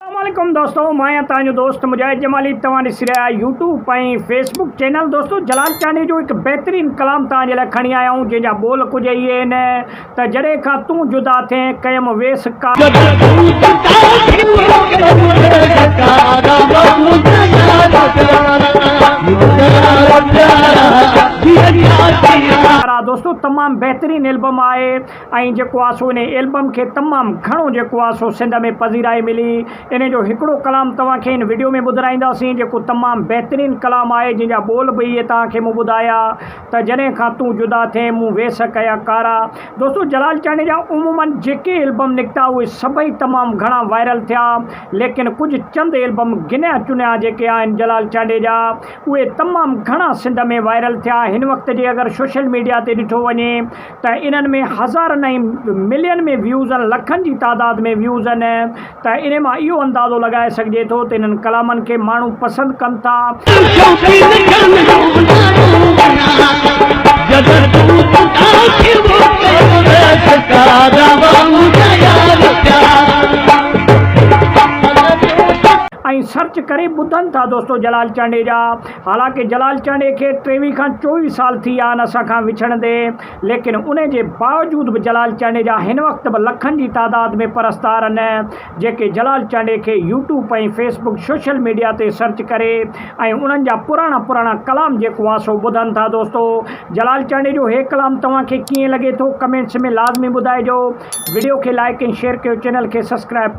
السلام عليڪم دوستو مان آهيان توهان جو دوست مجاهد جمالي توهان ڏسي رهيا آهيو يوٽيوب ۽ فيسبوڪ چينل دوستو جلال چانڊيو جو هڪ بهترين ڪلام توهان جي لاء کڻي آيا آهيون جنهن جا ٻول ڪجهه اهي آهن ته جڏهن کان تون جدا ٿئين ڪيم ويس ڪارا دوستو تمام بهترين البم آهي ۽ جيڪو آ سو انهي البم کي تمام گهڻو جيڪو آ سو سنڌ ۾ پذيرائي ملي. انهي جو هڪڙو ڪلام توهان کي هن وڊيو ۾ ٻڌرائينداسين جيڪو تمام بهترين ڪلام آهي جنهن جا ٻول به اهي توهان کي مون ٻڌايا ته جڏهن کان تون جدا ٿئين مون ويس ڪيا ڪارا. دوستو جلال چانڊيو جا عموما جيڪي البم نڪتا اهي سڀئي تمام گهڻا وائرل ٿيا ليڪن ڪجهه چند البم گنيا چنيا جيڪي آهن جلال چانڊيو جا اهي تمام گهڻا سنڌ ۾ وائرل ٿيا هن وقت جي اگر سوشل ميڊيا تي ڏٺو وڃي ته انهن ۾ هزارن ۽ ملين ۾ ويوز ۽ لکن جي تعداد ۾ ويوز آهن ته انهي مان اهو اندازو لڳائي سگهجي ٿو ته انهن ڪلامن کي ماڻهو پسند ڪن ٿا ۽ سرچ ڪري ٻڌن ٿا دوستو جلال چانڊيجا. حالانڪ جلال چانڊيي کي ٽيويهه کان چوويهه سال ٿي ويا آهن اسان کان وڇڙندي، ليڪن ان جي باوجود به جلال چانڊيي جا هن وقت به لکن جي تعداد ۾ پرستار آهن، جيڪي جلال چانڊيي کي YouTube ۽ Facebook social media تي سرچ ڪري ۽ انهن جا پراڻا پراڻا ڪلام جيڪو آهي سو ٻڌن ٿا دوستو جلال چانڊيي جو هي ڪلام توهان کي ڪيئن لڳي ٿو ڪمينٽس ۾ لازمي ٻڌائجو وڊيو کي لائيڪ ۽ شيئر ڪيو چينل کي سبسڪرائب